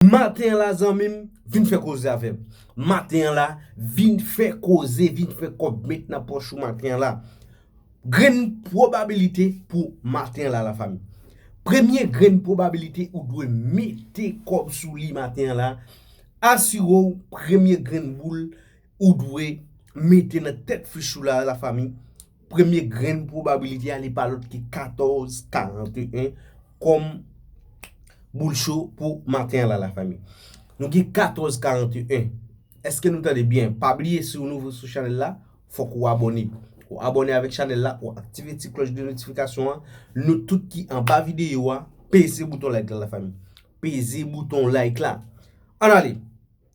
Maten an la zanmim vin fè koze avèm maten an la vin fè koze vin fè kòb met nan pòch ou maten an la grenn pwobabilite pou maten an la la fanmi premye grenn pwobabilite ou dwe mete kòb sou li maten an la asire w premye grenn boul ou dwe mete nan tèt fich ou la la fanmi Premye grenn pwobabilite a li pa lòt ke 14, 41 kòm boul cho pou maten an la la fanmi. Nou gen 14, 41. Eske nou tande byen? Pa bliye si ou nouvo sou chanèl la, fòk ou abòne. Ou abòne avèk chanèl la, ou aktive ti klòch de notifikasyon an. Nou tout ki anba videyo a, peze bouton like la la fanmi. Peze bouton like la. An ale!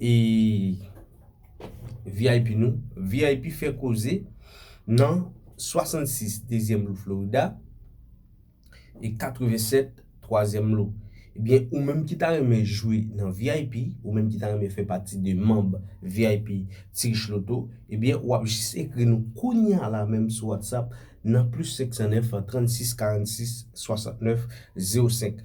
e vip nou vip fè koze nan 66 dezyèm lou florida e 87 twazyèm lou ebyen ou menm ki ta renmen jwe nan vip ou menm ki ta renmen fè pati de manb vip ti rich loto ebyen wap jis ekri nou kounya la menm sou whatsapp nan plis 509 36 46 69 05.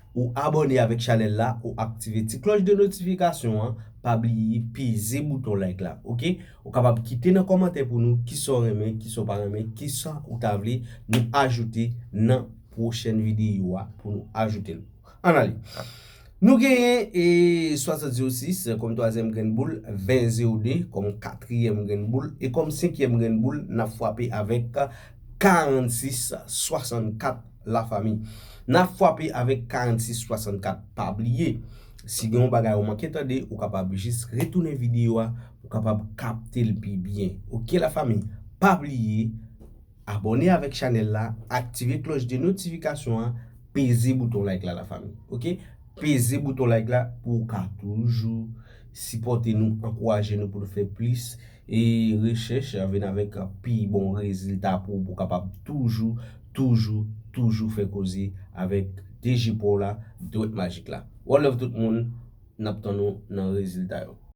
ou abòne avèk chanèl la ou aktive ti klòch de notifikasyon an pa bliye peze bouton like la ok ou kapab kite nan kòmantè pou nou kisa w renmen kisa w pa renmen kisa ou ta vle nou ajoute nan pwochèn videyo a pou nou ajoute l an ale nou genyen e 60 0 6 kòm twazyèm grenn boul 20 0 2 kòm katriyèm grenn boul e kòm senkyèm grenn boul n ap fwape avèk 46 64 la fami na fwape avèk 46 64 pa bliye si gen yon bagay ou manke tande ou kapab jis retounen video a pou kapab kaptel pi byen ok la fami pa bliye abòne avèk chanèl la aktive klòch de notifikasyon an peze bouton like la la fami ok peze bouton like la pou ou ka toujou sipòte nou ankouraje nou pou nou fè plis. E rechèch vin avèk pi bon rezilta pou ou kapab toujou, toujou, toujou fè koze avèk DG pa w la, Dwèt Majik la. One love tout moun, n ap tann ou nan rezilta yo.